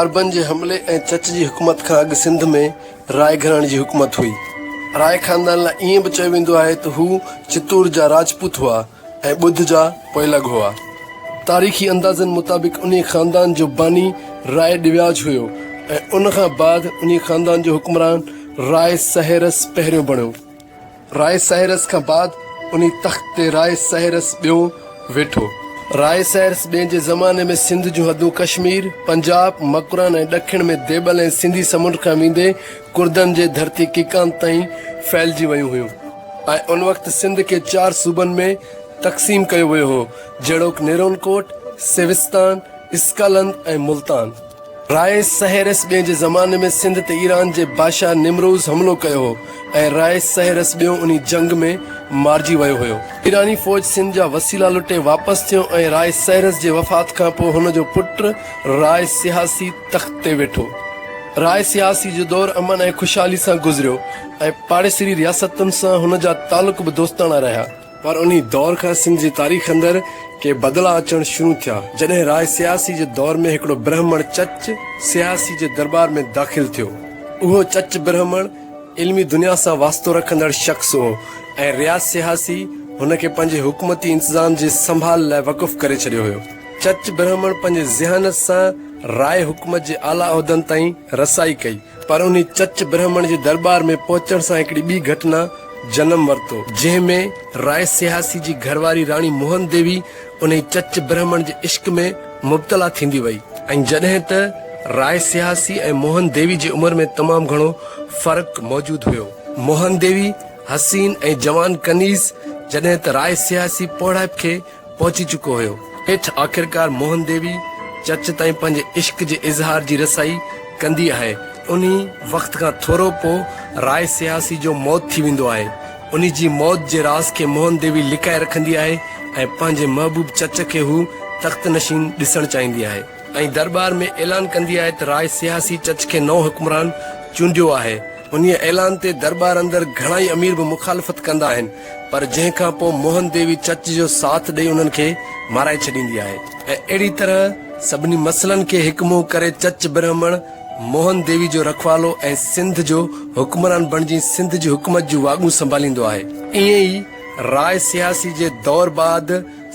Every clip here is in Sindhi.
عربن جي حملي ۽ چچ جي حڪومت کان اڳ سنڌ ۾ راء گهراڻي جي حڪومت هئي. راء خاندان لاء ائين به چيو ويندو آهي ته هو چتور جا راجپوت هئا ۽ ٻڌ جا پوئلڳ هئا. تاريخي اندازن مطابق انهي خاندان جو باني راء ڏيواج هيو ۽ ان کان بعد انهي خاندان جو حڪمران راء سهيرس پهريون بڻيو. راء سائرس کان بعد انهي تخت تي راء سائرس ٻيون ويٺو. راء سائرس ٻئين جي زماني ۾ سنڌ جون حدون ڪشمير، پنجاب، مڪران ۽ ڏکڻ ۾ ديبل ۽ سنڌي سمنڊ کان ويندي ڪردن جي ڌرتي ڪيڪانت تائين ڦهلجي ويون هيون ۽ ان وقت سنڌ کي چار صوبن ۾ تقسيم ڪيو ويو هو جهڙوڪ نيرون ڪوٽ، سيوستان، اسڪالند ۽ ملتان. راء سهيرس ٻئين جي زماني ۾ سنڌ تي ايران جي بادشاهه نمروز حملو ڪيو هو ۽ راء سهيرس ٻيون انهي جنگ ۾ مارجي ويو هيو. ايراني فوج سنڌ جا وسيلا لٽي واپس ٿيو ۽ راء سهيرس جي وفات کان پوء هن جو پٽ راء سياسي تخت تي ويٺو. راء سياسي جو دور امن ۽ خوشحالي سان گذريو ۽ پاڙيسري رياستن سان هن جا تعلق به دوستاڻا رهيا. پر انهي دور کان سنڌ جي تاريخ اندر ڪي بدلاء اچڻ شروع ٿيا، جڏهن راء سياسي جي دور ۾ هڪڙو برهمڻ چچ سياسي جي درٻار ۾ داخل ٿيو. اهو چچ برهمڻ علمي دنيا سان واسطو رکندڙ شخص هو ۽ ريا سياسي هن کي پنهنجي حڪومتي انتظام جي سنڀال لاء وقف ڪري ڇڏيو هيو. چچ برهمڻ پنهنجي ذهانت سان راء حڪومت جي اعليٰ عهدن تائين رسائي ڪئي. پر انهي چچ برهمڻ جي درٻار ۾ پهچڻ سان هڪڙي ٻي گهٽنا جنم ورتو، جنهن ۾ راء سياسي جي گهر واري راڻي موهن ديوي انهي چچ برهمڻ جي عشق ۾ مبتلا ٿيندي وئي ۽ جڏهن ته راء سياسي ۽ موهن ديوي جي عمر ۾ تمام گهڻو فرق موجود هيو. موهن ديوي حسين ۽ جوان ڪنيز جڏهن ته راء سياسي پوڙهائپ کي پهچي چڪو هيو. هيٺ آخرڪار موهن ديوي چرچ تائين پنهنجي عشق جي اظهار جي رسائي ڪندي آهي. انهي وقت کان ٿورو پوء راء سياسي جو موت ٿي ويندو آهي. انهي جي موت جي راز کي موهن ديوي لڪائي رکندي آهي ۽ پنهنجي محبوب چرچ کي هو تخت نشين ڏسڻ چاهيندي آهي. ۽ درٻار ۾ اعلان ڪندي آهي ته راء سياسي چرچ کي نئون حڪمران چونڊيو آهي. انهي اعلان تي درٻار اندر گهڻائي امير به مخالفت ڪندا آهن. پر جنهن کان پوء موهن ديوي چچ جو ساٿ ڏئي انهن کي مارائي ڇڏيندي آهي ۽ اهڙي طرح سڀني مسئلن کي هڪ منهن ڪري چچ برهمڻ موهن ديوي جو رکوالو ۽ سنڌ جو حڪمران بڻجي سنڌ جي حڪومت جون واڳون سنڀاليندو آهي. ائين ئي راء سياسي جي دور بعد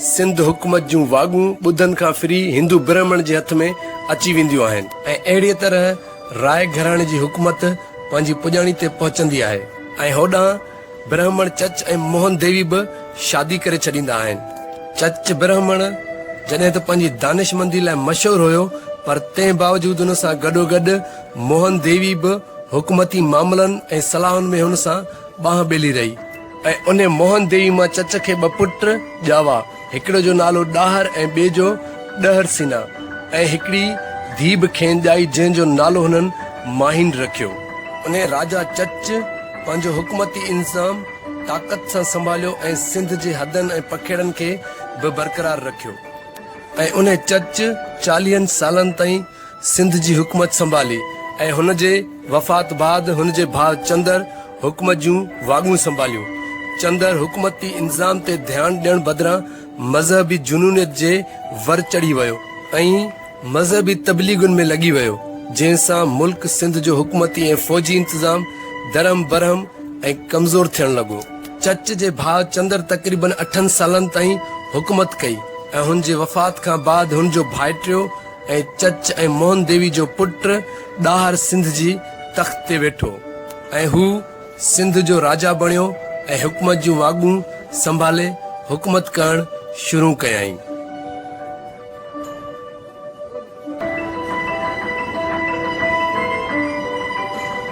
سنڌ حڪومت جون واڳون ٻڌن کان ڦري هندو برهمڻ جي هٿ ۾ اچي وينديون آهن ۽ اهڙيء طرح راء گهراڻي جي حڪومت پنهنجي پڄاڻي تي پهچندي آهي ۽ هوڏانهن برهمڻ چچ ۽ موهن ديوي به شادي ڪري ڇڏيندا آهن. چچ برهمڻ جڏهن ته پنهنجي دانشمندي لاء مشهور هيو پر تنهن باوجود ان سان گڏوگڏ موهن ديوي به حڪومتي معاملن ۽ صلاحن ۾ هن سان ٻانهن ٻيلي رهي ۽ انهي موهن ديوي مان چچ کي ٻه پٽ ڄاوا، هڪڙو جو نالو ڏاهر ۽ ٻئي جو ڏهر سينا ۽ هڪڙي ڌيء به کين ڄائي جنهن جو نالو هنن ماهين رکيو. انهيء راجا چچ پنهنجو حڪومتي انظام طاقت سان سنڀاليو ۽ سنڌ جي حدن ۽ پکيڙن کي به برقرار رکيو ۽ انهيء چچ چاليهن سالن تائين سنڌ جي حڪومت سنڀالي ۽ هن جي وفات بعد هن جي ڀاء چندر حڪومت جون واڳون سنڀاليون. چندر حڪومتي انتظام تي ڌيان ڏيڻ بدران مذهبي جنونيت جي ور چڙهي ويو ۽ مذهبي تبليغن ۾ لڳي ويو جنهن سان ملڪ سنڌ جو حڪومتي ۽ فوجي انتظام درهم برهم ۽ ڪمزور ٿيڻ لڳو. چچ جي ڀاء چندر تقريبن اٺن سالن تائين حڪومت ڪئي ۽ هن جي وفات کان بعد هن جو ڀائٽيو ۽ چچ ۽ موهن ديوي جو پٽ ڏاهر سنڌ جي تخت تي ويٺو ۽ هو سنڌ جو راجا بڻيو ۽ حڪومت جون واڳون سنڀالي حڪومت ڪرڻ شروع ڪيائين.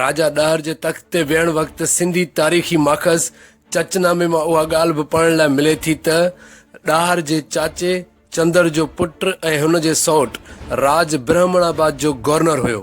راجا ڏهر جي تخت تي ويهڻ وقت سنڌي تاريخي ماخذ چچنامي مان اها ڳالهه به پڙهڻ لاء ملي ٿي ته ڏاهر جي چاچي چندر جو پٽ ۽ هن جي سئوٽ راج برهمڻ آباد جو گورنر هيو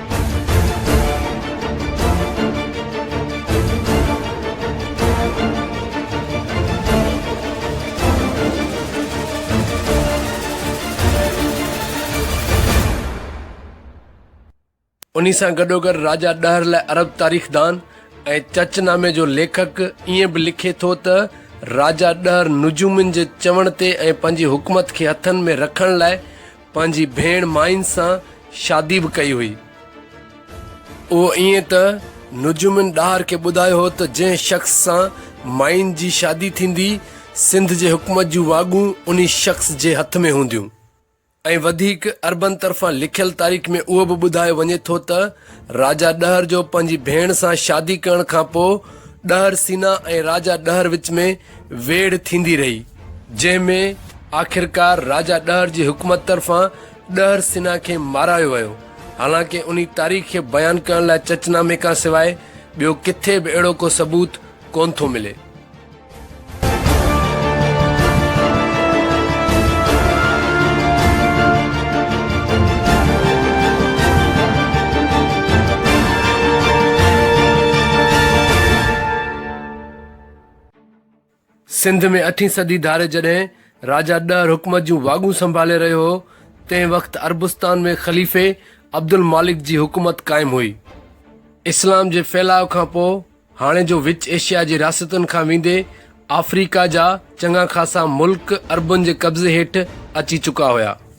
انهي سان گڏوگڏ راجا ڏهر لاء عرب تاريخدان ۽ چچ نامي جو ليکڪ ائين به لکي ٿو ته راجا ڏهر نجومين جي چوڻ تي ۽ پنهنجي حڪومت کي هٿن ۾ رکڻ لاء پنهنجي ڀيڻ مائين سان شادي به ڪئي هئي. اهو ائين ته نجومين ڏاهر کي ٻڌايو هو ته جنهن شخص سان مائين جي شادي ٿيندي، سنڌ جي حڪومت جون واڳون انهي شخص جي هٿ ۾ هونديون. ۽ وڌيڪ عربن طرفان لکيل تاريخ ۾ اهو به ٻڌايو وڃي ٿو ته راجا ڏهر جو پنهنجي ڀيڻ سان شادي ڪرڻ کان پوء ڏهر سينا ۽ راجا ڏهر وچ ۾ ويڙهه ٿيندي رهي، جنهن ۾ آخرڪار راجا ڏهر جي حڪومت طرفان ڏهر سنها کي مارايو ويو. حالانڪه انهي تاريخ کي بيان ڪرڻ لاء چچ نامي کان سواء ٻيو ڪٿي به اهڙو ڪو ثبوت ڪونه ٿو ملي. سنڌ ۾ اٺين صدي ڌاري جڏهن راجا ڏهر حڪومت جون واڳون سنڀالي رهيو هو، تنهن وقت عربستان ۾ خليفي عبدالمالڪ جي حڪومت قائم هئي. اسلام جي ڦهلاء کان پوء هاڻي جو وچ ايشيا جي رياستن کان ويندي آفريڪا جا چڱا خاصا ملڪ عربن جي قبضي هيٺ اچي چڪا هيا.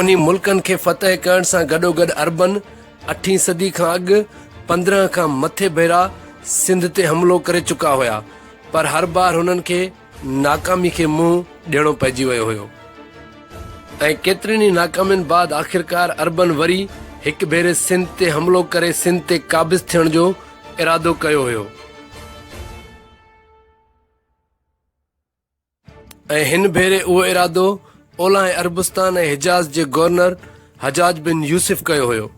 انهي ملڪن کي فتح ڪرڻ سان گڏوگڏ عربن اٺين صدي کان اڳ پندرهن کان مٿي ڀيرا سنڌ تي حملو ڪري چڪا هيا پر هر بار هنن کي ناڪامي کي منهن ڏيڻو پئجي ويو هيو ۽ ڪيترين ئي ناڪامين بعد آخرڪار عربن وري هڪ ڀيري سنڌ تي حملو ڪري سنڌ تي قابض ٿيڻ جو ارادو ڪيو هيو ۽ هن ڀيري اهو ارادو اولهائين عربستان ۽ حجاز جي گورنر حجاج بن يوسف ڪيو هيو.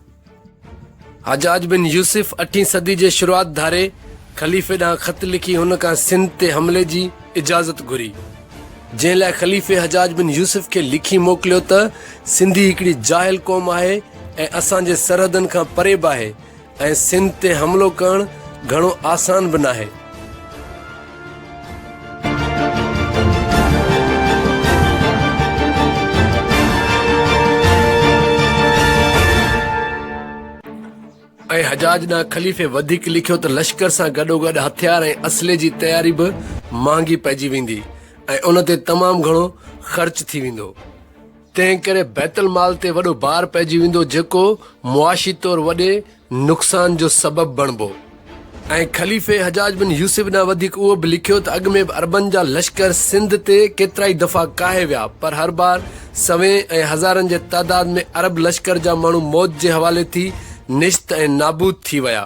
حجاج بن يوسف اٺين صدي جي شروعات ڌاري خليفي ڏانهن خط لکي هن کان سنڌ تي حملي جي اجازت گهري، جنهن لاء خليفي حجاج بن يوسف کي لکي موڪليو ته سنڌي هڪڙي جاهل قوم آهي ۽ اسان جي سرحدن کان پري به آهي، ۽ سنڌ تي حملو ڪرڻ گهڻو آسان به ناهي. ۽ حجاج ڏانهن خليفي وڌيڪ لکيو ته لشڪر سان گڏوگڏ هٿيار ۽ اسلحي جي تياري به مهانگي پئجي ويندي ۽ ان تي تمام گهڻو خرچ ٿي ويندو. تنهنڪري بيت المال تي وڏو بار پئجي ويندو جيڪو معاشي طور وڏي نقصان جو سبب بڻبو ۽ خليفي حجاج بن يوسف ڏانهن وڌيڪ اهو به لکيو ته اڳ ۾ به عربن جا لشڪر سنڌ تي ڪيترائي دفعا ڪاهي ويا پر هر بار سوين ۽ هزارن جي تعداد ۾ عرب لشڪر جا ماڻهو موت جي حوالي ٿي نشت ۽ نابود ٿي ويا.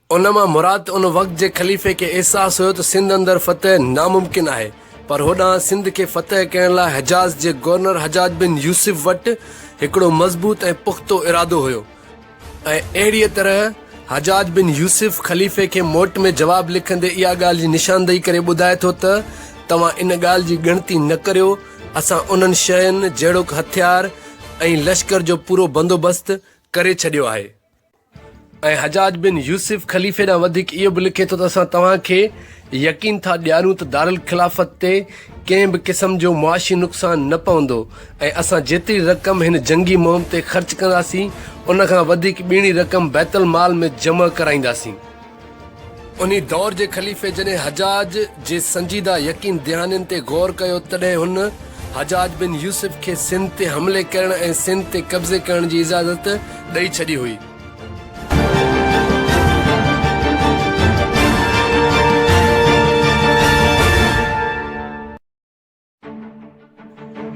ان مان مراد ته ان وقت جي خليفي کي احساس هيو ته سنڌ اندر فتح ناممڪن آهي پر هوڏانهن سنڌ کي فتح ڪرڻ لاء حجاز جي گورنر حجاج بن يوسف وٽ هڪڙو مضبوط ۽ پختو ارادو هيو ۽ اهڙيء طرح حجاج بن يوسف خليفي کي موٽ ۾ جواب لکندي اها ڳالهه جي نشاندهي ڪري ٻڌائي ٿو ته توهان ان ڳالهه جي ڳڻتي نه ڪريو اسان انهن شين جهڙوڪ هٿيار ۽ لشڪر جو پورو بندوبست ڪري ڇڏيو آهي. ۽ حجاج بن يوسف خليفي ڏانهن وڌيڪ اهو به لکي ٿو ته اسان توهان کي يقين ٿا ڏياريون ته دارالخلافت تي ڪنهن به قسم جو معاشي نقصان نه پوندو ۽ اسان جيتري رقم هن جنگي مهم تي خرچ ڪنداسين ان کان وڌيڪ ٻيڻي رقم بيت المال ۾ جمع ڪرائينداسين. انهي دور جي خليفي جڏهن حجاج جي سنجيده يقين دهانين تي غور ڪيو تڏهن هن حجاج بن يوسف کي سنڌ تي حملي ڪرڻ ۽ سنڌ تي قبضي ڪرڻ جي اجازت ڏئي ڇڏي هئي.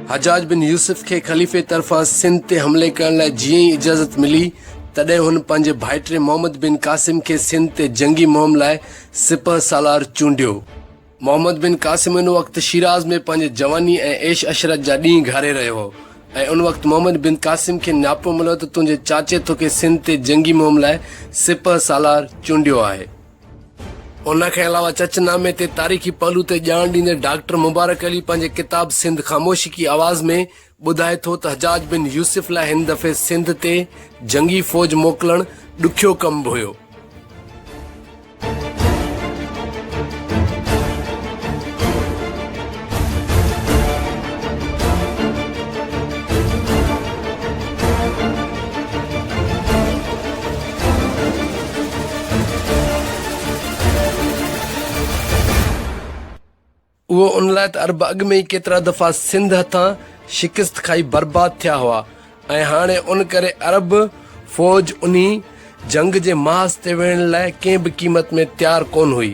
حجاج بن يوسف کي خليفي طرفان سنڌ تي حملي ڪرڻ لاء جيئن ئي اجازت ملي، تڏهن هن پنهنجي ڀائٽي محمد بن قاسم کي سنڌ تي جنگي مهم لاء سپهه سالار چونڊيو. محمد بن قاسم ان وقت شيراز ۾ پنهنجي جواني ۽ عيش عشرت جا ڏينهن گهاري رهيو هو ۽ ان وقت محمد بن قاسم کي نياپو مليو ته تنهنجي چاچي توکي سنڌ تي جنگي مهم لاء سپهه سالار چونڊيو آهي. ان کان علاوه چچ نامي تي تاريخي پهلو تي ڄاڻ ڏيندي ڊاڪٽر مبارڪ علي پنهنجي ڪتاب سنڌ خاموشي ڪي آواز ۾ ٻڌائي ٿو ته حجاج بن يوسف لاء هن دفعي سنڌ تي جنگي فوج موڪلڻ ڏکيو ڪم به هيو. اهو ان لاء ته عرب اڳ ۾ ئي ڪيترا دفعا سنڌ هٿان شڪست کائي برباد ٿيا هئا ۽ هاڻي ان ڪري عرب فوج انهي جنگ جي محاذ تي ويهڻ لاء ڪنهن به قيمت ۾ تيار ڪونه هئي.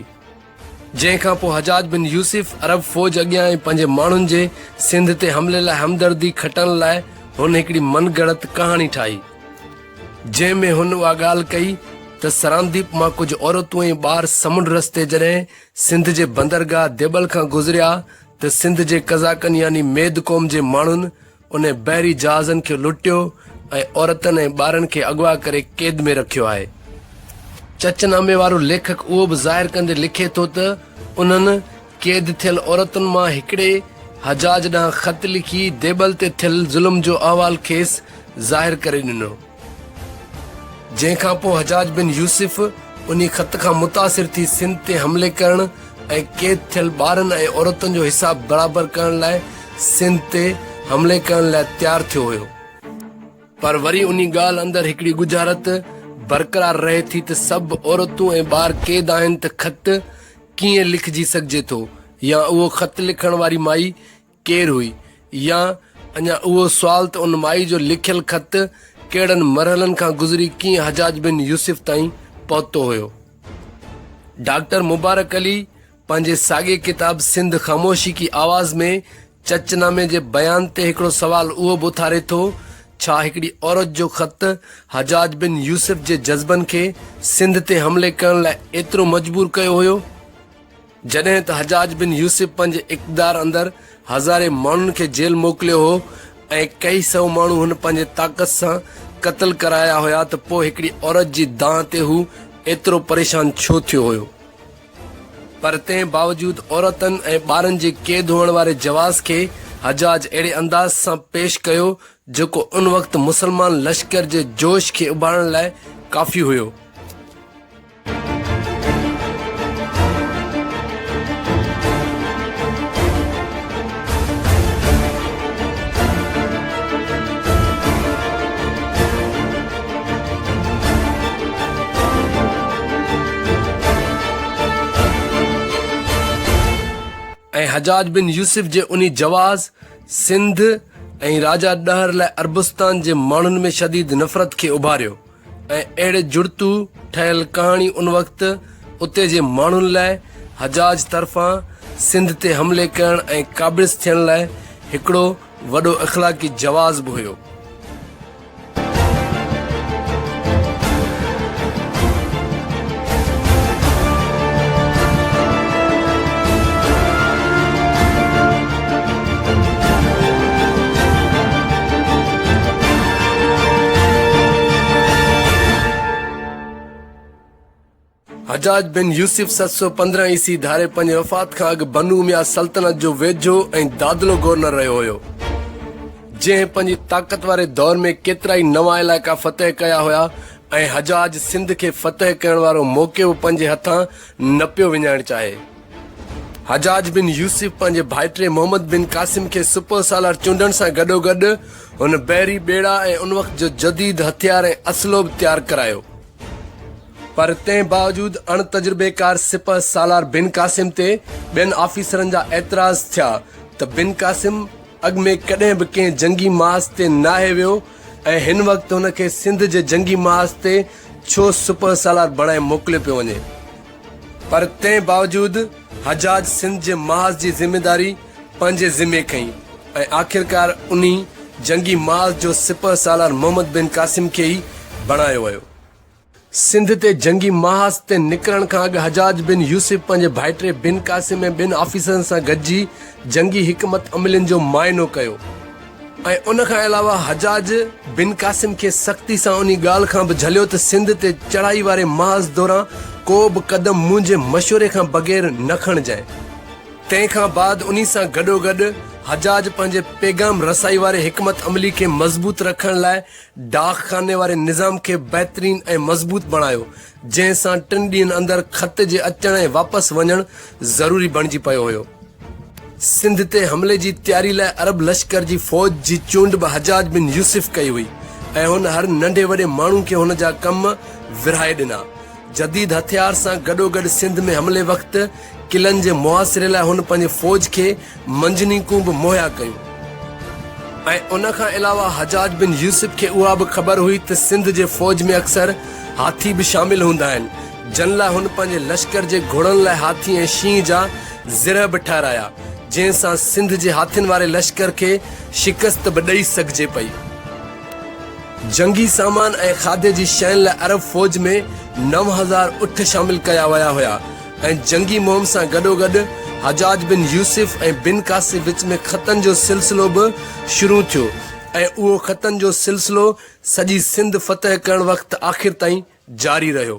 جنهن کان پوء حجاج بن يوسف عرب فوج اڳيان ۽ پنهنجي ماڻهن جي سنڌ تي حملي لاء همدردي کٽڻ لاء هن هڪڙي من گڙت ڪهاڻي ٺاهي، جنهن ۾ هن اها ڳالهه ڪئي ته سرانديپ مان ڪجهه عورتون ۽ ٻار سمنڊ رستي جڏهن سنڌ جي بندرگاهه ديٻل کان گذريا ته سنڌ جي قزاقن يعني ميد قوم جي ماڻهن انهن بحري جهازن کي لٽيو ۽ عورتن ۽ ٻارن کي اغوا ڪري قيد ۾ رکيو آهي. چچ نامي وارو ليکڪ اهو به ظاهر ڪندي لکي ٿو ته انهن قيد ٿيل عورتن مان هڪڙي حجاج ڏانهن خط لکي ديبل تي ٿيل ظلم جو احوال کيس ظاهر ڪري ڏنو. جنهن کان پوء حجاج بن يوسف انهي خط کان متاثر ٿي سنڌ تي حملي ڪرڻ ۽ قيد ٿيل ٻارن ۽ عورتن جو حساب برابر ڪرڻ لاء سنڌ تي حملي ڪرڻ لاء تيار ٿيو هيو. پر وري انهي ڳالهه اندر هڪڙي ڳجهارت برقرار رهي ٿي ته سڀ عورتون ۽ ٻار قيد آهن ته خط ڪيئن لکجي سگهجي ٿو يا اهو خط لکڻ واري مائي ڪير هئي يا اڃا اهو سوال ته ان مائي جو لکيل خط ڪهڙن مرحلن کان گذري ڪيئن حجاج بن يوسف تائين پهتو هيو. ڊاڪٽر مبارڪ علي پنهنجي ساڳئي ڪتاب سنڌ خاموشي ڪي آواز ۾ چچ نامي جي بيان تي هڪڙو سوال اهو به اٿاري ٿو، ڇا هڪڙي عورت جو خط حجاج بن يوسف جي جذبن کي سنڌ تي حملي ڪرڻ لاء ايترو مجبور ڪيو هيو؟ جڏهن ته حجاج بن يوسف پنهنجي اقتدار اندر هزارين ماڻهن کي جيل موڪليو هو ۽ ڪيئي سئو ماڻهو هن پنهنجي طاقت سان قتل ڪرايا هيا ته پوء هڪڙي عورت جي دانهن تي هو ايترو پريشان ڇو ٿيو هيو؟ پر تنهن باوجود عورتن ۽ ٻارن جي قيد هئڻ واري جواز کي حجاج اهڙي انداز سان پيش ڪيو جيڪو ان وقت مسلمان لشڪر جي جوش کي اڀارڻ لاء ڪافي هيو. ۽ حجاج بن يوسف جي انهي جواز سنڌ ۽ راجا ڏهر لاء عربستان جي ماڻهن ۾ شديد نفرت کي اڀاريو ۽ اهڙي جڙتو ٺهيل ڪهاڻي ان وقت اتي جي ماڻهن لاء حجاج طرفان سنڌ تي حملي ڪرڻ ۽ قابض ٿيڻ لاء هڪڙو وڏو اخلاقي جواز به هيو. حجاج بن يوسف ست سؤ پندرهن عيسي ڌاري پنهنجي وفات کان اڳ بنو اميا سلطنت جو ويجهو ۽ دادلو گورنر رهيو هيو جنهن پنهنجي طاقت واري دور ۾ ڪيترائي نوان علائقا فتح ڪيا هيا ۽ حجاج سنڌ کي فتح ڪرڻ وارو موقعو به پنهنجي هٿان نه پيو وڃائڻ چاهي. حجاج بن يوسف پنهنجي ڀائٽي محمد بن قاسم کي سپهه سالار چونڊڻ سان گڏوگڏ هن بحري ٻيڙا ۽ ان وقت جو جديد هٿيار ۽ اسلحو به تيار ڪرايو. پر تنهن باوجود اڻ تجربيڪار سپهه سالار بن قاسم تي ٻين آفيسرن جا اعتراض ٿيا ته بن قاسم، اڳ ۾ ڪڏهن به ڪنهن جنگي ماس تي ناهي ويو ۽ هن وقت هن کي سنڌ جي جنگي ماس تي ڇو سپهه سالار بڻائي موڪليو پيو وڃي پر تنهن باوجود حجاج سنڌ جي ماس جي ذميداري پنهنجي ذمي کنئي ۽ آخرڪار انهي جنگي ماس جو سپهه سالار محمد بن قاسم کي ئي بڻايو ويو. سنڌ تي جنگي محاذ تي نڪرڻ کان اڳ حجاج بن يوسف پنهنجي ڀائٽي بن قاسم ۽ ٻين آفيسرن سان گڏجي جنگي حڪمت عملين جو معائنو ڪيو ۽ ان کان علاوه حجاج بن قاسم کي سختي سان انهي ڳالهه کان به جهليو ته سنڌ تي چڙهائي واري محاذ دوران ڪو به قدم منهنجي مشوري کان بغير نه کڻجانء تنهن کان بعد انهي سان گڏوگڏ حجاج پنهنجي پيغام رسائي واري حڪمت عملي کي مضبوط رکڻ لاء ڊاڪ خاني واري نظام کي بهترين ۽ مضبوط بڻايو، جنهن سان ٽن ڏينهن اندر خط جي اچڻ ۽ واپس وڃڻ ضروري بڻجي پيو هيو. سنڌ تي حملي جي تياري لاء عرب لشڪر جي فوج جي چونڊ به حجاج بن يوسف ڪئي هئي ۽ هن هر ننڍي وڏي ماڻهو کي هن جا ڪم ورهائي ڏنا. جديد هٿيار سان گڏوگڏ سنڌ ۾ حملي وقت قلعن جي محاصري لاء هن پنهنجي فوج کي منجنيقون به مهيا ڪيون ۽ ان کان علاوه حجاج بن يوسف کي اها به خبر هئي ته سنڌ جي فوج ۾ اڪثر هاٿي به شامل هوندا آهن جن لاء هن پنهنجي لشڪر جي گهوڙن لاء هاٿي ۽ شينهن جا زرهه به ٺهرايا جنهن سان سنڌ جي هاٿين واري لشڪر کي شڪست به ڏئي سگهجي پئي جنگي سامان ۽ کاڌي جي شين لاء عرب فوج ۾ نو هزار اٺ شامل ڪيا ويا هيا ۽ جنگي مهم سان گڏوگڏ حجاج بن يوسف ۽ بن قاسي وچ ۾ خطن جو سلسلو به شروع ٿيو ۽ اهو خطن جو سلسلو سڄي سنڌ فتح ڪرڻ وقت آخر تائين جاري رهيو.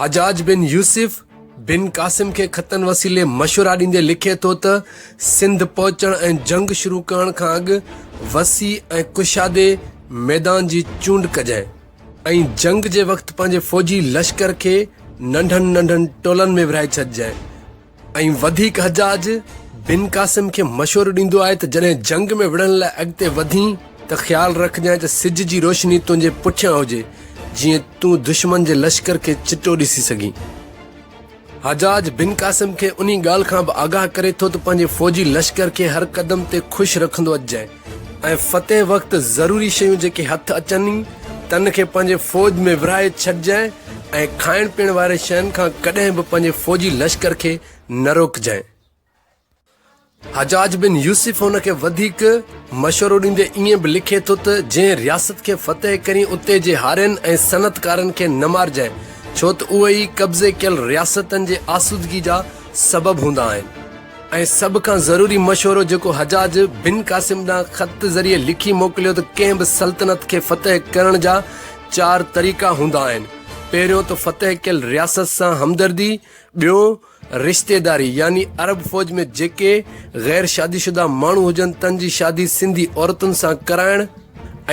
حجاج بن يوسف بن قاسم کي خطن وسيلي مشورا ڏيندي لکي ٿو ته سنڌ پهچڻ ۽ جنگ شروع ڪرڻ کان اڳ وسيع ۽ ڪشادي ميدان جي چونڊ ڪجانء ۽ جنگ جي وقت پنهنجي فوجي لشڪر کي ننڍن ننڍن ٽولن ۾ ورهائي ڇڏجانء ۽ وڌيڪ حجاج بن قاسم کي مشورو ڏيندو آهي ته جڏهن جنگ ۾ وڙهڻ لاء اڳتي وڌين ته خيال رکجانء ته سج جي روشني تنهنجي پٺيان هجي جيئن تون دشمن جي لشڪر کي چٽو ڏسي سگهين. حجاج بن قاسم کي انهي ڳالهه کان به آگاهه ڪري ٿو ته پنهنجي فوجي لشڪر کي هر قدم تي خوش رکندو اچجانء. ۽ فتح وقت ضروري شيون جيڪي هٿ اچن ئي تن کي پنهنجي فوج ۾ ورهائي ڇڏجانء ۽ کائڻ پيئڻ واري شين کان ڪڏهن به پنهنجي فوجي لشڪر کي نه روڪجانء. حجاج بن يوسف هن کي وڌيڪ مشورو ڏيندي ائين به لکي ٿو ته جنهن رياست کي فتح ڪرين اتي جي هارين ۽ صنعتڪارن کي نه مارجانء ڇو ته اهي ئي قبضي ڪيل رياستن جي آسودگي جا سبب هوندا آهن. ۽ سڀ کان ضروري مشورو جيڪو حجاج بن قاسم ڏانهن خط ذريعي لکي موڪليو ته ڪنهن به سلطنت کي فتح ڪرڻ جا چار طريقا هوندا آهن، پهريون ته فتح ڪيل رياست سان همدردي، ٻيون رشتيداري يعني عرب فوج ۾ جيڪي غير شادي شده ماڻهو هجن تن جي شادي سنڌي عورتن سان ڪرائڻ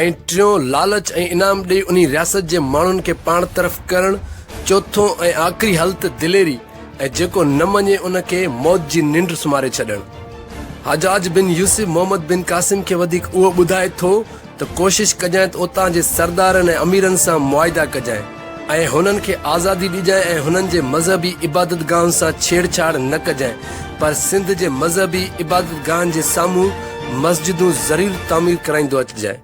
۽ ٽيون لالچ ۽ انعام ڏئي انهي رياست جي ماڻهن کي پاڻ طرف ڪرڻ، چوٿون ۽ آخري حل ته دليري، ۽ جيڪو نه مڃي ان کي موت جي ننڊ سمهاري ڇڏڻ. حجاج بن يوسف محمد بن قاسم کي وڌيڪ اهو ٻڌائي ٿو ته ڪوشش ڪجانء ته اتان جي سردارن ۽ اميرن سان معاهدا ڪجانء ۽ هنن کي آزادي ڏجانء ۽ هنن جي مذهبي عبادتگاهن سان ڇيڙ ڇاڙ نه ڪجانء پر سنڌ جي مذهبي عبادتگاهن جي سامهون مسجدون ضرور تعمير ڪرائيندو اچجانء.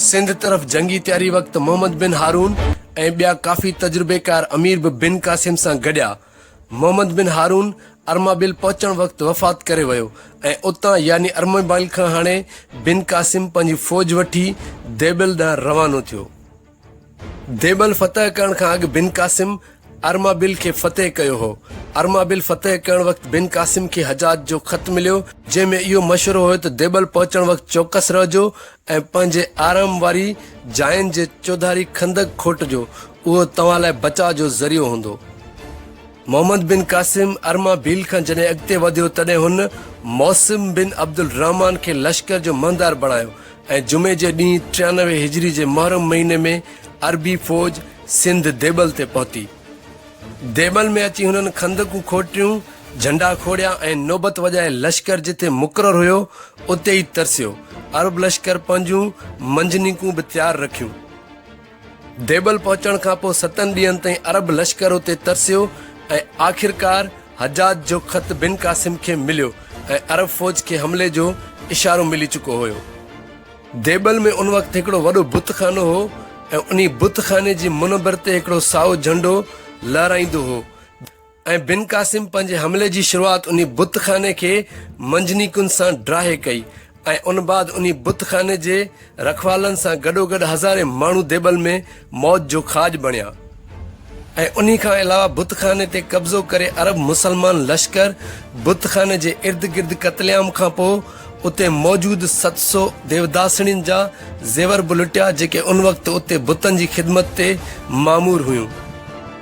سنڌ طرف جنگي تياري وقت محمد بن هارون ۽ ٻيا ڪافي تجربيڪار امير به بن قاسم سان گڏيا. محمد بن هارون ارمابيل پهچڻ وقت وفات ڪري ويو ۽ اتان يعني ارمابيل کان هاڻي بن قاسم پنهنجي فوج وٺي ديبل ڏانهن روانو ٿيو. ديبل فتح ڪرڻ کان اڳ بن قاسم ارمابيل کي فتح ڪيو هو. ارمابيل فتح ڪرڻ وقت بن قاسم کي حجاج جو خط مليو، جنهن ۾ اهو مشورو هيو ته ديبل پهچڻ وقت چوڪس رهجو ۽ پنهنجي آرام واري جاين جي چوڌاري خندق کوٽجو، اهو توهان لاء بچاء جو ذريعو هوندو. Muhammad bin Qasim Armabel کان جڏهن اڳتي وڌيو تڏهن هن معصم بن عبدالرحمان کي لشڪر جو مهندار بڻايو ۽ جمعي جي ڏينهن ٽيانوي هجري جي محرم مهيني ۾ عربي فوج سنڌ ديبل تي پهتي. ديبل ۾ اچي هنن خندقون کوٽيون، جهنڊا کوڙيا ۽ نوبت وڄائي لشڪر جتي مقرر هيو اتي ئي ترسيو. عرب لشڪر پنهنجون منجنيقون به تيار رکيون. ديبل پهچڻ کان پوء ستن ڏينهن تائين عرب لشڪر اتي ترسيو ۽ آخرڪار حجاج جو خط بن قاسم کي مليو ۽ عرب فوج کي حملي جو اشارو ملي چڪو هيو. ديبل ۾ ان وقت هڪڙو وڏو بت خانو هو ۽ انهي بت خاني جي منبر تي هڪڙو سائو جهنڊو لهرائيندو هو. ۽ بن قاسم پنهنجي حملي جي شروعات انهي بت خاني کي منجنيقن سان ڊاهي ڪئي ۽ ان بعد انهي بت خاني جي رکوالن سان گڏوگڏ هزارين ماڻهو ديبل ۾ موت جو کاڄ بڻيا ۽ انهي کان علاوه بت خاني تي قبضو ڪري عرب مسلمان لشڪر بت خاني جي ارد گرد قتل عام کانپوء اتي موجود ست سو ديوداسڻين جا زيور به لٽيا جيڪي ان وقت اتي بتن جي خدمت تي مامور هيون.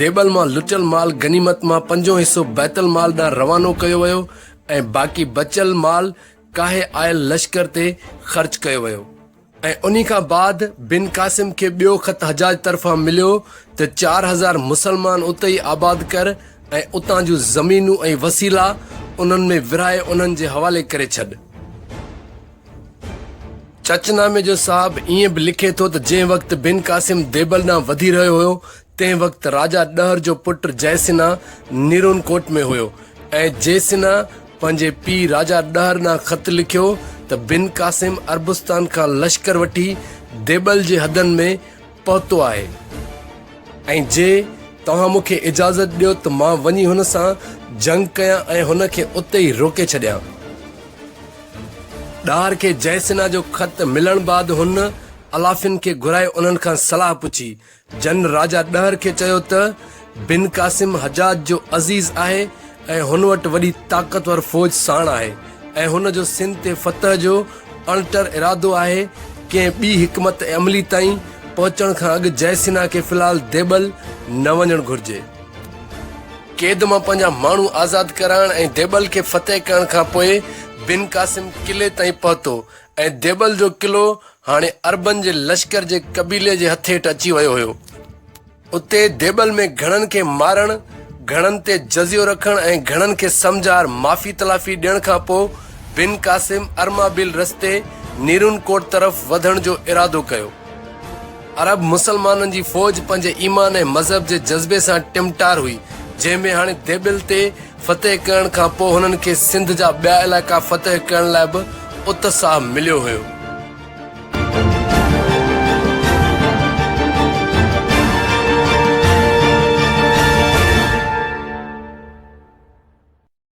ديبل مان لٽيل مال غنيمت مان پنجون حصو بيت المال ڏانهن روانو ڪيو ويو ۽ باقي بچيل مال ڪاهي آيل لشڪر تي خرچ ڪيو ويو. ۽ انهي کان بعد بن قاسم کي ٻيو خط حجاج طرفان مليو ته چار هزار مسلمان اتي ئي آباد ڪر ۽ اتان جون زمينون ۽ وسيلا انهن ۾ ورهائي انهن جي حوالي ڪري ڇڏ. چچ نامي جو صاحب ائين به لکي ٿو ته جنهن وقت بن قاسم ديبل ڏانهن وڌي رهيو هيو تنهن وقت راجا ڏهر جو پٽ جئه سنها نيرون ڪوٽ ۾ هيو ۽ جئه سنها پنهنجي پيء راجا ڏهر ڏانهن خط لکيو ته بن قاسم عربستان کان لشڪر وٺي ديبل جي حدن ۾ پهتو آهي ۽ جي توهان مون کي اجازت ڏيو ته مان وڃي هن سان جنگ ڪيان ۽ هن کي اتي ئي روڪي ڇڏيان. ڏهر کي جئه سنها جو خط ملڻ بعد هن علافين کي گهرائي انهن کان صلاح پڇي جن راجا ڏهر کي چيو ته، بن قاسم حجاج جو عزيز آهي ۽ هن وٽ وڏي طاقتور فوج ساڻ آهي ۽ هن جو سنڌ تي فتح جو اڻٽر ارادو آهي، ڪنهن ٻي حڪمت عملي تائين پهچڻ کان اڳ جئه سنها کي في الحال ديبل نه وڃڻ گهرجي. قيد مان پنهنجا ماڻهو آزاد ڪرائڻ ۽ ديبل کي فتح ڪرڻ کان پوء بن قاسم قلعي تائين پهتو ۽ ديبل جو قلعو هاڻي عربن جي لشڪر جي قبيلي جي هٿ هيٺ اچي ويو هيو. اتي ديبل ۾ گهڻن کي مارڻ، گهڻن تي جزيو رکڻ ۽ گهڻن کي سمجهار معافي تلافي ڏيڻ کان پوء بن قاسم ارمابيل رستي نيرون ڪوٽ طرف وڌڻ جو ارادو ڪيو. عرب مسلمانن جي فوج پنهنجي ايمان ۽ مذهب جي جذبي سان ٽمٽار هئي، جنهن ۾ هاڻي ديبل تي فتح ڪرڻ کان پوء هنن کي سنڌ جا ٻيا علائقا فتح ڪرڻ لاء به اتساهه مليو هيو.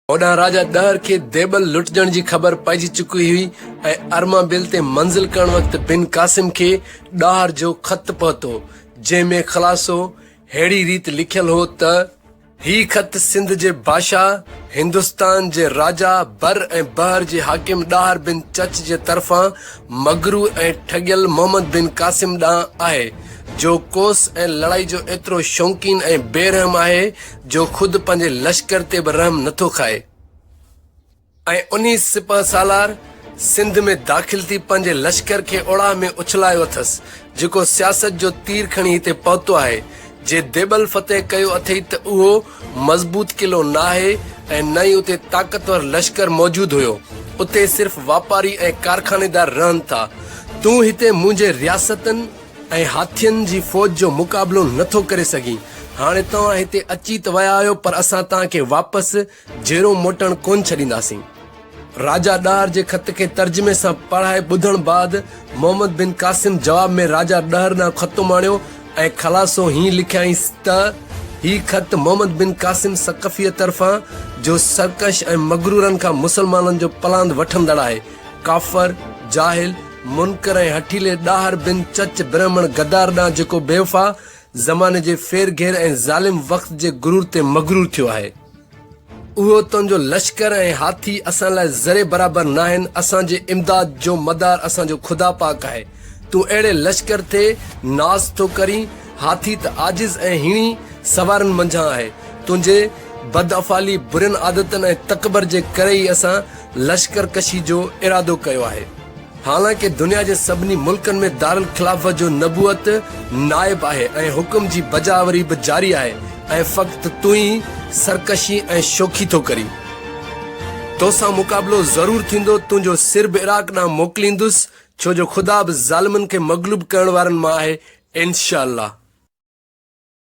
هوڏانهن راجا ڏهر کي ديبل لٽجڻ جي خبر پئجي چڪي هئي ۽ ارمابيل تي منزل ڪرڻ وقت بن قاسم کي ڏاهر جو خط پهتو جنهن ۾ خلاصو ههڙي ريت لکيل هو ته، هي خط سنڌ جي بادشاهه، هندستان جي راجا، بر ۽ بحر جي حاڪم ڏاهر بن چچ جي طرفان مغرور ۽ ٺڳيل محمد بن قاسم ڏانهن آهي، جو ڪوس ۽ لڙائي جو ايترو شوقين ۽ بي رحم آهي، جو خود پنهنجي لشڪر تي به رحم نٿو کائي. ۽ انهي سپهه سالار سنڌ ۾ داخل ٿي پنهنجي لشڪر کي اڙاهه ۾ اڇلايو اٿس، جيڪو سياست جو تير کڻي هتي پهتو آهي. جي ديبل فتح ڪيو اٿئي ته اهو مضبوط قلعو ناهي ۽ نه ئي اتي طاقتور لشڪر موجود هيو. اتي صرف واپاري ۽ ڪارخانيدار رهن ٿا. تون هتي منهنجي رياستن ۽ هاٿين جي فوج جو مقابلو نٿو ڪري سگهين. هاڻي توهان هتي اچي ته ويا آهيو پر اسان توهان کي واپس جيرو موٽڻ ڪونه ڇڏينداسين. راجا ڏهر جي خط کي ترجمي سان پڙهائي ٻڌڻ بعد محمد بن قاسم جواب ۾ راجا ڏهر ڏانهن خط اماڻيو ۽ خلاصو هيئن لکيائينس ته، هي خط محمد بن قاسم ثقفيء طرفان، جو سرڪش ۽ مغرورن کان مسلمانن جو پلاند وٺندڙ آهي، ڪافر، جاهل، منڪر ۽ هٺيلي ڏاهر بن چچ برهمڻ غدار ڏانهن جيڪو بيوفا، زماني جي ڦير گهير ۽ ظالم وقت جي غرور تي مغرور ٿيو آهي. اهو تنهنجو لشڪر ۽ هاٿي اسان لاء ذري برابر ناهن، اسان جي امداد جو مدار اسان جو خدا پاڪ آهي، تون اهڙي لشڪر تي ناز ٿو ڪرين، هاٿي ته عاجز ۽ هيڻي سوارن منجهان آهي، تنهنجي بدافعالي، برين عادتن ۽ تڪبر جي ڪري ئي اسان لشڪر ڪشي جو ارادو ڪيو آهي. حالانڪ دنيا جي سڀني ملڪن ۾ دارالخلافت جو نبوت نائب آهي ۽ حڪم جي بجاآوري به جاري آهي ۽ فقط تون ئي سرڪشي ۽ شوخي ٿو ڪرين. تو سان مقابلو ضرور ٿيندو، تنهنجو سر به عراق ڏانهن موڪليندس، ڇو جو خدا به ظالمن کي مغلوب ڪرڻ وارن مان آهي، انشاء الله.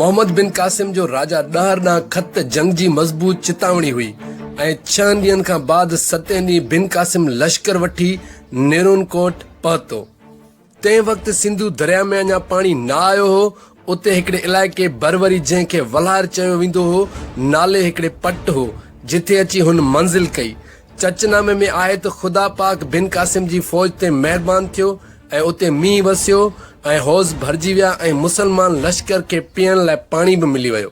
محمد بن قاسم جو راجا ڏهر ڏانهن خط جنگ جي مضبوط چتاوڻي هئي ۽ ڇهن ڏينهن کان بعد ستين ڏينهن بن قاسم لشڪر وٺي نيرون ڪوٽ پهتو. تنهن وقت سنڌو درياء ۾ اڃا پاڻي نه آيو هو. اتي هڪڙي علائقي بروري جنهن کي ولهار چيو ويندو هو نالي هڪڙي پٽ هو جتي اچي هن منزل ڪئي. چچ نامي ۾ آهي ته خدا پاڪ بن قاسم جي فوج تي مهربان ٿيو ۽ اتي مينهن وسيو ۽ حوض ڀرجي ويا ۽ مسلمان لشڪر کي پيئڻ لاء پاڻي به ملي ويو.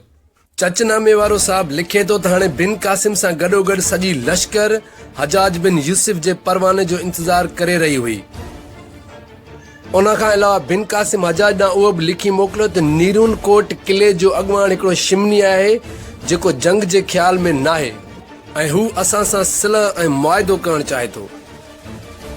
چچ نامي وارو صاحب لکي ٿو ته هاڻي بن قاسم سان گڏوگڏ سڄي لشڪر حجاج بن يوسف جي پرواني جو انتظار ڪري رهي هئي. ان کان علاوه بن قاسم حجاج ڏانهن اهو به لکي موڪليو ته نيرون ڪوٽ قلعي جو اڳواڻ هڪڙو شمني آهي جيڪو جنگ جي خيال ۾ ناهي ۽ هو اسان سان صلح ۽ معاهدو ڪرڻ چاهي ٿو.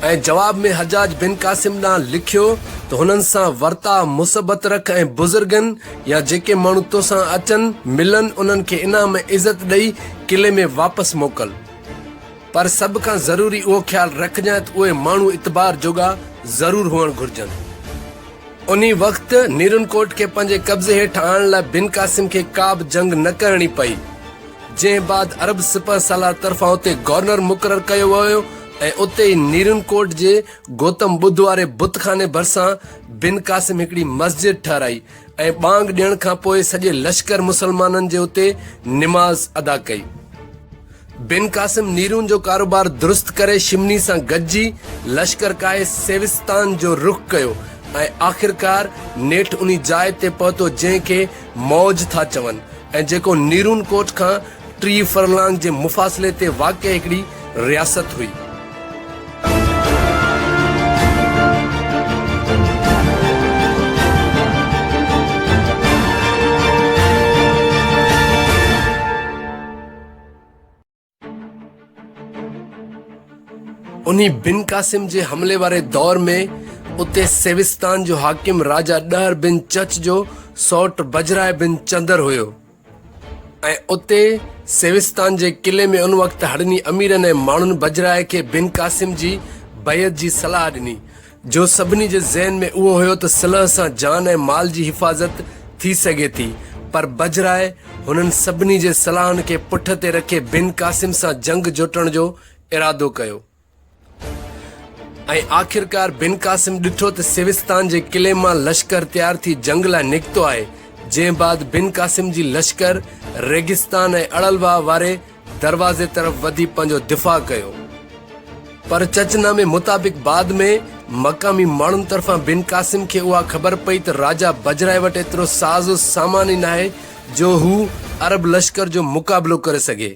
۽ جواب ۾ حجاج بن قاسم ڏانهن لکيو ته هنن سان ورتاء مثبت رک ۽ بزرگن يا جيڪي ماڻهو تو سان اچن ملن انهن کي انعام ۽ عزت ڏئي قلعي ۾ واپس موڪل پر سڀ کان ضروري اهو خيال رکجانء ته اهي ماڻهو اعتبار جوڳا ضرور هئڻ گهرجن. انهي وقت نيرنڪوٽ کي پنهنجي قبضي هيٺ آڻڻ لاء بن قاسم کي ڪابه جنگ نه ڪرڻي پئي. جنهن بعد عرب سپهه سالار طرفان اتي گورنر مقرر ڪيو ويو ۽ اتي ئي نيرن ڪوٽ جي گوتم ٻڌ واري بت خاني ڀرسان بن قاسم هڪڙي مسجد ٺهرائي ۽ ٻانگ ڏيڻ کان پوء سڄي لشڪر مسلمانن جي اتي نماز ادا ڪئي. بن قاسم نيرون جو ڪاروبار درست ڪري شمني سان گڏجي لشڪر ڪاهي سيوستان جو رخ ڪيو ۽ آخرڪار نيٺ انهي جاء تي پهتو جنهن کي موج ٿا چون ۽ جيڪو نيرون ڪوٽ کان ٽيهه فرلانگ جي مفاصلي تي واقع هڪڙي رياست هئي. انهي بن قاسم جي حملي واري دور ۾ اتي سيوستان جو حاڪم راجا ڏهر بن چچ جو سئوٽ بجراء بن چندر هيو ۽ اتي سيوستان جي قلعي ۾ ان وقت هڙني اميرن ۽ ماڻهن بجراء کي بن قاسم جي بيعت جي صلاح ڏني جو سڀني جي ذهن ۾ اهو هيو ته صلح سان جان ۽ مال جي حفاظت ٿي سگهي ٿي پر بجراء هنن سڀني جي صلاحن کي پٺ تي رکي بن قاسم سان جنگ جوٽڻ جو ارادو ڪيو ۽ آخرڪار بن قاسم ڏٺو ته سيوستان جي قلعي مان لشڪر تيار ٿي جنگ لاء نڪتو آهي جنهن بعد بن قاسم جي لشڪر ريگستان ۽ اڙلواهه واري دروازي طرف وڌي پنهنجو دفاع ڪيو پر چچ نامي مطابق بعد ۾ مقامي ماڻهن طرفان بن قاسم کي اها خبر پئي ته راجا بجرائي وٽ ايترو ساز و سامان ئي ناهي جو هو عرب لشڪر جو مقابلو ڪري سگهي.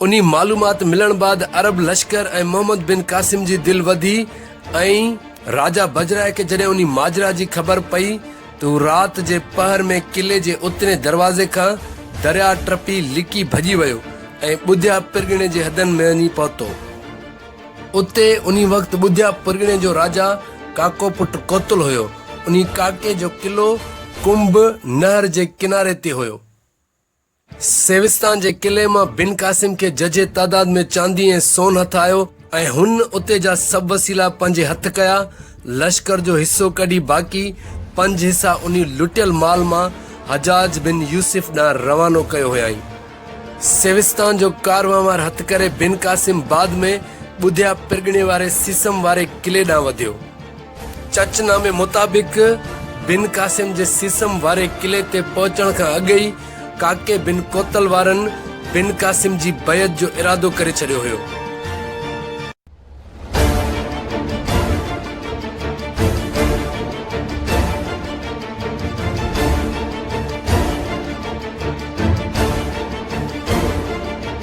انهي معلومات ملڻ بعد عرب لشڪر ۽ محمد بن قاسم جي دل وڌي ۽ راجا بجرائي کي جڏهن انهي ماجرا جي خبر پئي ته هو رات جي پهر ۾ قلعي جي اترئين دروازي کان درياء ٽپي لڪي ڀڄي ويو ۽ ٻڌيا پرڳڻي جي حدن ۾ وڃي پهتو. اتي انهي وقت ٻڌيا پرڳڻي جو راجا ڪاڪو پٽ ڪوتل هيو. انهي ڪاڪي جو قلعو ڪنڀ نهر جي ڪناري تي هيو. سيوستان جي قلعي مان بن قاسم کي ججهي تعداد ۾ چاندي ۽ سون هٿ آيو ۽ هن اتي جا سڀ وسيلا پنهنجي هٿ ڪيا. لشڪر جو حصو ڪڍي باقي پنج حصا انهي لٽيل مال مان حجاج بن يوسف ڏانهن روانو ڪيو هيائين. سيوستان جو ڪارونهوار هٿ ڪري بن قاسم بعد ۾ ٻڌيا پرڳڻي واري سيسم واري قلعي ڏانهن وڌيو. چرچ نامي مطابق بن قاسم جي سيسم واري قلعي تي پهچڻ کان اڳ ئي ڪاڪي بن ڪوتل وارن بن قاسم جي بيعت جو ارادو ڪري ڇڏيو هيو.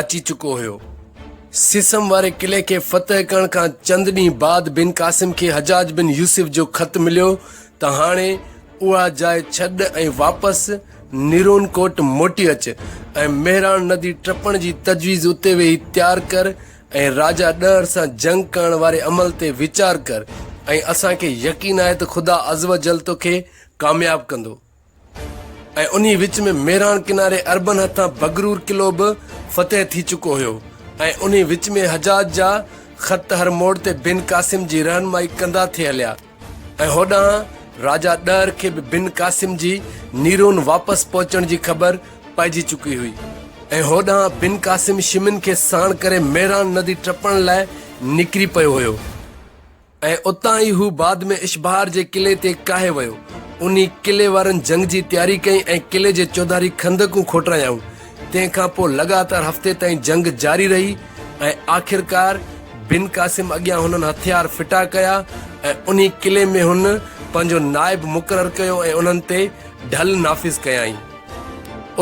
اچي چڪو هيو. سيسم واري قلعي کي فتح ڪرڻ کان چند ڏينهن بعد بن قاسم کي حجاج بن يوسف جو خط مليو ته هاڻي اها جاء ڇڏ ۽ واپس نيرون ڪوٽ موٽي اچ ۽ مهراڻ ندي ٽپڻ جي تجويز اتي ويهي تيار ڪر ۽ راجا ڏهر سان جنگ ڪرڻ واري عمل تي ويچار ڪر ۽ اسان کي يقين آهي ته خدا عزّ وجلّ توکي ڪامياب ڪندو. ۽ انهي وچ ۾ ميراڻ ڪناري عربن هٿان بگرور قلعو به فتح ٿي چڪو هيو ۽ انهي وچ ۾ حجاج جا خط هر موڙ تي بن قاسم جي رهنمائي ڪندا ٿي هليا ۽ هوڏانهن راجا ڏهر کي به بن قاسم جي نيرون واپس پهچڻ جي خبر پئجي چڪي هئي ۽ هوڏانهن بن قاسم شمن کي ساڻ ڪري ميراڻ ندي ٽپڻ لاء نڪري پيو هيو. ۽ اتان ئي هو بعد ۾ اشبهار جي قلعي تي ڪاهي ويو. انهي قلعي وارن جنگ جي تياري ڪئي ۽ قلعي جي چوڌاري خندقون کوٽرايائون. تنهن کان پوء لڳاتار هفتي تائين جنگ جاري رهي ۽ آخرڪار بن قاسم اڳيان هنن هٿيار ڦٽا ڪيا ۽ انهي قلعي ۾ هن پنهنجو نائب مقرر ڪيو ۽ انهن تي ڍل نافذ ڪيائين.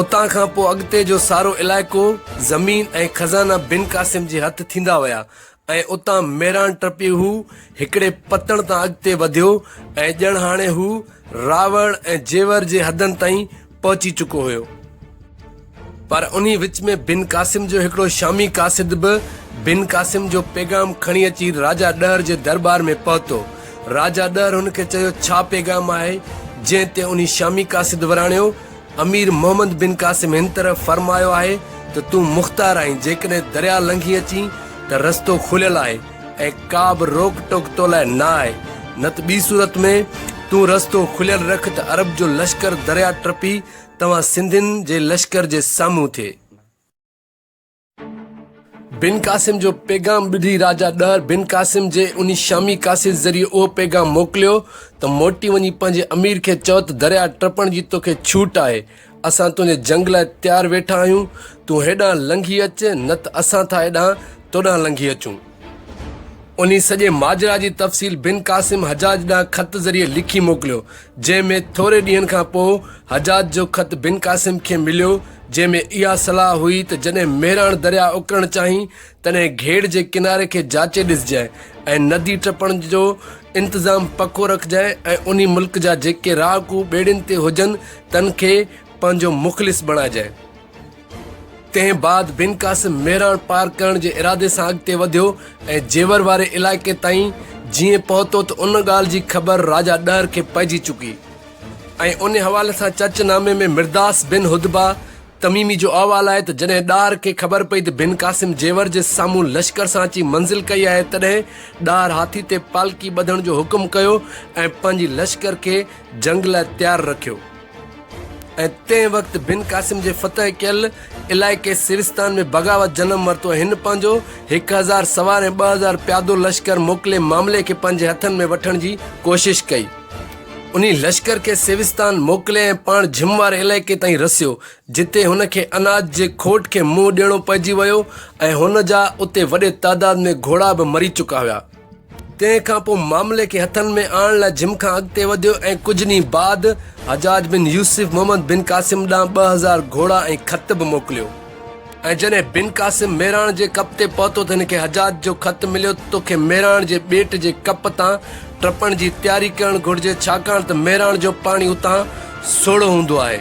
اتان کان پوء اڳتي جو سارو علائقو، زمين ۽ خزانا بن قاسم جي هٿ ٿيندا ويا ۽ اتان ميران ٽپي هو هڪڙي پتڻ تان اڳتي وڌيو ۽ ڄڻ هاڻي هو راوڙ ۽ جيور جي حدن تائين پهچي چڪو هيو. پر انهي وچ ۾ بن قاسم جو هڪڙو شامي قاصد به بن قاسم جو پيغام کڻي اچي راجا ڏهر جي درٻار ۾ پهتو. راجا ڏهر هن کي چيو ڇا پيغام آهي؟ جنهن تي انهي شامي قاصد وراڻيو، امير محمد بن قاسم هن طرح فرمايو آهي ته تون مختار آهين، جيڪڏهن درياء لنگهي اچين ته رستو کليل آهي ۽ ڪا به روڪ ٽوڪ تو لاء نه آهي، نه ته ٻي صورت ۾ تون رستو کليل رک ته عرب جو لشڪر درياء ٽپي توهان سنڌين جي لشڪر جي سامهون ٿئي. بن قاسم جو پيغام ٻڌي راجا ڏهر بن قاسم جي انهي شامي قاصد ذريعي اهو پيغام موڪليو ته موٽي وڃي پنهنجي امير کي چئو ته درياء ٽپڻ جي توکي ڇوٽ آهي اسان تنهنجي جنگ لاء تيار ويٺا آهيون تون هيڏانهن لنگهي اچ نه ته اسان ٿا هيڏانهن توڏانهن لنگهي اچون. انهي سڄي ماجرا جي تفصيل بن قاسم حجاج ڏانهن خط ذريعي لکي موڪليو، جنهن ۾ ٿوري ڏينهن کان پوء حجاج جو خط بن قاسم کي مليو، جنهن ۾ اها صلاح هئي ته جڏهن مهراڻ درياهه اڪرڻ چاهين، تڏهن گهيڙ جي ڪناري کي جاچي ڏسجانء ۽ ندي ٽپڻ جو انتظام پڪو رکجانء ۽ انهي ملڪ جا جيڪي رهاڪو ٻيڙين تي هجن، تن کي پنهنجو مخلص بڻائجانء. تنهن بعد بن قاسم ميراڻ پار ڪرڻ جي ارادي سان اڳتي وڌيو ۽ جيور واري علائقي تائين جيئن پهتو ته ان ڳالهه جي خبر راجا ڏهر کي پئجي چڪي ۽ ان حوالي سان چچ نامي ۾ مرداس بن هدبه تميمي جو احوال آهي ته جڏهن ڏاهر کي خبر پئي ته بن قاسم جيور جي سامهون لشڪر سان اچي منزل ڪئي آهي تڏهن ڏاهر هاٿي تي پالڪي ٻڌڻ جو حڪم ڪيو ۽ پنهنجي لشڪر کي جنگ لاء تيار رکيو. ۽ تنهن وقت بن قاسم جي فتح ڪيل علائقي سيوستان ۾ بغاوت جنم ورتو ۽ هن پنهنجو هڪ هزار سوار ۽ ٻه هزار پيادو لشڪر موڪلي معاملي کي پنهنجي هٿن ۾ وٺڻ جي ڪوشش ڪئي. انهي لشڪر کي سيوستان موڪلي ۽ پاڻ جھم واري علائقي تائين رسيو، جتي هن کي اناج جي کوٽ کي منهن ڏيڻو پئجي ويو ۽ هن جا اتي وڏي تعداد ۾ گھوڙا به مري چڪا هيا. تنهن کان پوء معاملي کي هٿن ۾ آڻڻ لاء جم کان اڳتي وڌيو ۽ ڪجهه ڏينهن بعد حجاج بن يوسف محمد بن قاسم ڏانهن ٻه هزار گهوڙا ۽ خط به موڪليو ۽ جڏهن بن قاسم ميراڻ جي ڪپ تي پهتو ته هن کي حجاج جو خط مليو ته توکي ميراڻ جي ٻيٽ جي ڪپ تان ٽپڻ جي تياري ڪرڻ گهرجي ڇاڪاڻ ته ميراڻ جو پاڻي اتان سوڙهو هوندو آهي.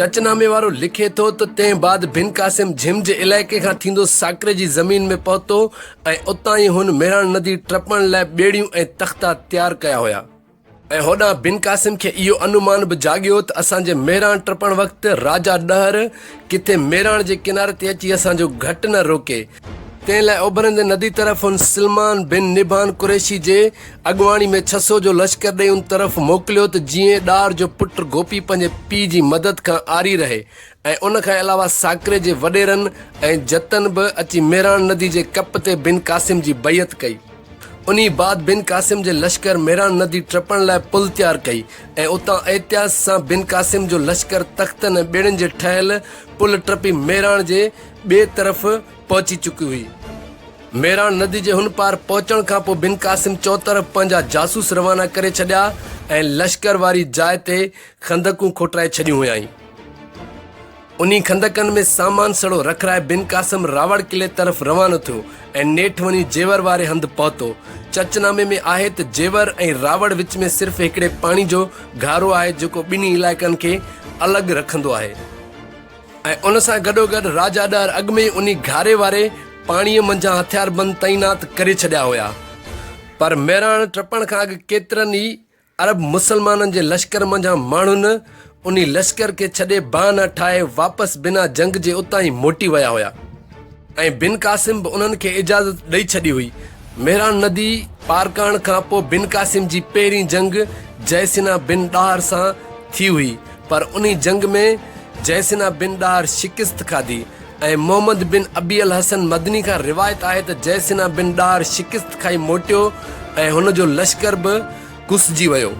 چچ نامي وارو لکي ٿو ته تنهن بعد بن قاسم جھم جي علائقي کان ٿيندو ساڪري جي زمين ۾ پهتو ۽ اتان ئي هن مهراڻ ندي ٽپڻ لاء ٻيڙيون ۽ تختا تيار ڪيا هيا ۽ هوڏانهن بن قاسم کي اهو انومان به جاڳيو ته اسان جي مهراڻ ٽپڻ وقت راجا ڏهر ڪٿي مهراڻ جي ڪناري تي اچي اسان جو گهٽ نه روڪي، تنهن لاء اڀرندي ندي طرف هن سلمان بن نبهان قريشي جي اڳواڻي ۾ ڇهه سؤ جو لشڪر ڏيئي ان طرف موڪليو ته جيئن ڏار جو پٽ گوپي پنهنجي پيء جي مدد کان عاري رهي ۽ ان کان علاوه ساڪري جي وڏيرن ۽ جتن به اچي ميراڻ ندي جي ڪپ تي بن قاسم جي بيعت ڪئي. انهي بعد بن قاسم جي لشڪر ميراڻ ندي ٽپڻ لاء پل تيار ڪئي ۽ اتان احتياط سان بن قاسم جو لشڪر تختن ۽ ٻيڙين جي ٺهيل پل ٽپي ميراڻ جي ٻئي طرف پهچي چڪي هئي. ميراڻ ندي جي هن پار پهچڻ کان پوء بن قاسم چوطرف پنهنجا جاسوس روانا ڪري ڇڏيا ۽ لشڪر واري جاء تي خندقون کوٽرائي ڇڏيون هيائين. انهي خندقن ۾ سامان سڙو رکرائي بن قاسم راوڙ قلعي طرف روانو ٿيو ۽ نيٺ وڃي جيور واري هنڌ پهتو. چچ نامي ۾ آهي ته جيور ۽ راوڙ وچ ۾ صرف هڪڙي پاڻي جو گهارو آهي جيڪو ٻنهي علائقن کي الڳ رکندو آهي ۽ ان سان گڏوگڏ راجا ڏهر اڳ ۾ ئي انهي گهاري واري پاڻيء منجهان هٿياربند تعينات ڪري ڇڏيا هيا پر مهراڻ ٽپڻ کان اڳ ڪيترن ئي عرب مسلمانن جي لشڪر منجهان ماڻهن انهي لشڪر کي ڇڏي بهانا ٺاهي واپس بنا جنگ جي اتان ئي موٽي ويا هيا ۽ بن قاسم به انهن کي اجازت ڏئي ڇڏي هئي مهران ندي پار ڪرڻ کان پوء بن قاسم جي پهرين جنگ جئسنا بن ڏاهر سان ٿي هئي پر انهي جنگ ۾ جئسنا بن ڏاهر شڪست کاڌي ۽ محمد بن ابي الحسن مدني کان روايت آهي ته جئسنا بن ڏار شڪست کائي موٽيو ۽ هن جو لشڪر به ڪسجي ويو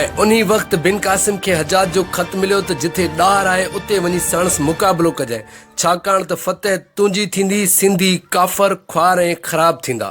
۽ انهي وقت بن قاسم کي حجاج جو خط مليو ته جتي ڏار آهي اتي وڃي ساڻس مقابلو ڪجانء ڇاڪاڻ ته فتح تنهنجي ٿيندي سنڌي ڪافر خوار ۽ خراب ٿيندا.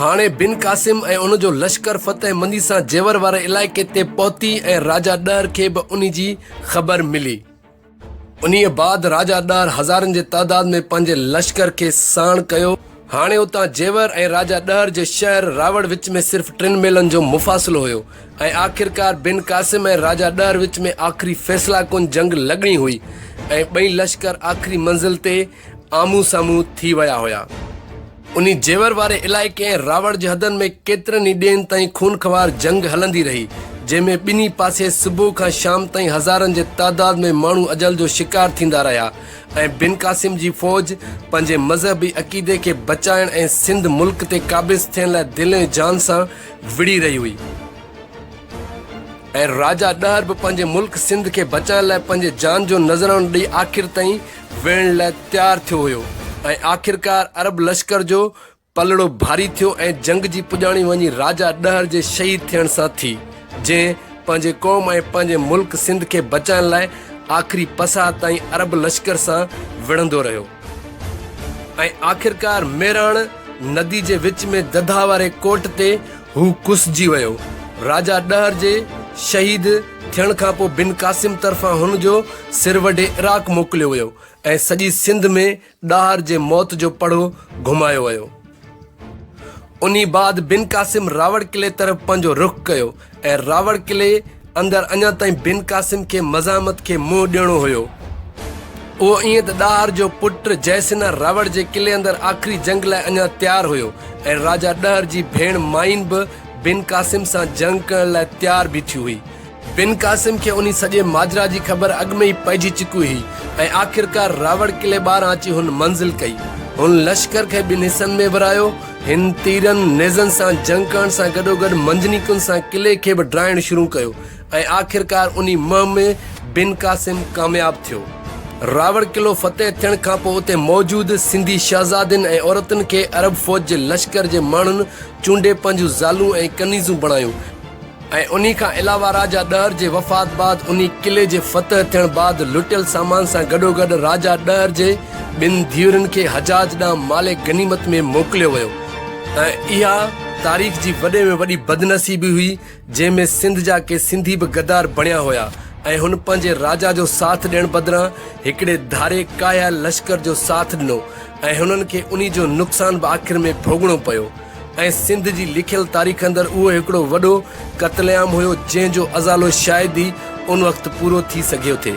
هاڻي بن قاسم ۽ ان جو لشڪر فتح مندي سان جيور واري علائقي تي پهتي ۽ راجا ڏهر کي به انهي جي خبر ملي. انهيء بعد راجا ڏهر هزارن جي تعداد ۾ پنهنجي لشڪر کي ساڻ ڪيو. هاڻي اتان جيور ۽ راجا ڏهر جي شهر راوڙ وچ ۾ صرف ٽن ميلن جو مفاصلو هيو ۽ آخرڪار بن قاسم ۽ راجا ڏهر وچ ۾ آخري فيصله ڪن جنگ لڳڻي هئي ۽ ٻئي لشڪر آخري منزل تي آمهون سامهون ٿي ويا هيا. انهي جيور واري علائقي ۽ راوڙ جي حدن ۾ ڪيترن ئي ڏينهن تائين خونخوار جنگ هلندي رهي، جنهن ۾ ٻنهي پاسي صبح کان شام تائين هزارن جي تعداد ۾ ماڻهو اجل جو شڪار ٿيندا رهيا ۽ بن قاسم جي فوج پنهنجي مذهبي عقيدي کي بچائڻ ۽ سنڌ ملڪ تي قابض ٿيڻ لاء دل ۽ جان سان وڙهي رهي هئي ۽ راجا ڏهر به پنهنجي ملڪ سنڌ کي بچائڻ لاء پنهنجي جان جو نذرانو ڏئي آخر تائين ويهڻ لاء تيار ٿيو هيو ۽ آخرڪار عرب لشڪر جو پلڙو ڀاري ٿيو ۽ جنگ جي پڄاڻي وڃي راجا ڏهر جي شهيد ٿيڻ سان ٿي جنهن پنهنجي قوم ۽ پنهنجي ملڪ سنڌ کي بچائڻ لاء آخري پساهه تائين عرب لشڪر سان وڙهندو رهيو ۽ آخرڪار ميراڻ ندي جي وچ ۾ ددها واري ڪوٽ تي هو ڪسجي ويو. راجا ڏهر جي شهيد ٿيڻ کان پوء بن قاسم طرفان هن جو سر وڍي عراق موڪليو ويو ۽ سڄي سنڌ ۾ ڏاهر جي موت جو پڙهو گهمايو ويو. انهي بعد بن قاسم راوڙ قلعي طرف پنهنجو رخ ڪيو ۽ راوڙ قلعي اندر اڃا تائين بن قاسم کي مزاحمت کي منهن ڏيڻو هيو. اهو ائين ته ڏاهر جو پٽ جئه سنها راوڙ جي قلعي اندر آخري جنگ لاء اڃا تيار هيو ۽ راجا ڏهر جي ڀيڻ مائين به بن قاسم سان جنگ ڪرڻ لاء تيار بيٺي هئي. بن قاسم کي انهي سڄي ماجرا جي خبر اڳ ۾ ئي پئجي چڪي هئي ۽ آخرڪار راوڙ قلعي ٻاهران اچي هن منزل ڪئي. هن لشڪر کي ٻن حصن ۾ ورهايو. هن تيرن نيزن سان جنگ ڪرڻ سان گڏوگڏ منجنيقن سان قلعي کي به ڊاهڻ شروع ڪيو ۽ آخرڪار انهي مهم ۾ بن قاسم ڪامياب ٿيو. راوڙ قلعو فتح ٿيڻ کانپوء اتي موجود سنڌي شهزادين ۽ عورتن کي عرب فوج جي لشڪر جي ماڻهن چونڊي پنهنجون زالون ۽ ڪنيزون بڻايون. ۽ انهي کان علاوه راجا ڏهر جي وفات بعد انهي قلعي جي فتح ٿيڻ بعد لٽيل سامان سان گڏوگڏ راجا ڏهر جي ٻن ڌيئرن کي حجاج ڏانهن مال غنيمت ۾ موڪليو ويو ۽ اها تاريخ جي وڏي ۾ وڏي بدنصيبي هئي جنهن ۾ سنڌ جا ڪي سنڌي به غدار بڻيا هيا ۽ هن پنهنجي راجا جو ساٿ ڏيڻ بدران هڪڙي ڌاري ڪاهيائل لشڪر جو ساٿ ڏنو ۽ هنن کي انهي جو نقصان به آخر ۾ ڀوڳڻو پيو ۽ سنڌ جي لکيل تاريخ اندر اهو هڪڙو وڏو قتل عام هيو جنهن جو ازالو شايد ئي ان وقت پورو ٿي سگهيو ٿي.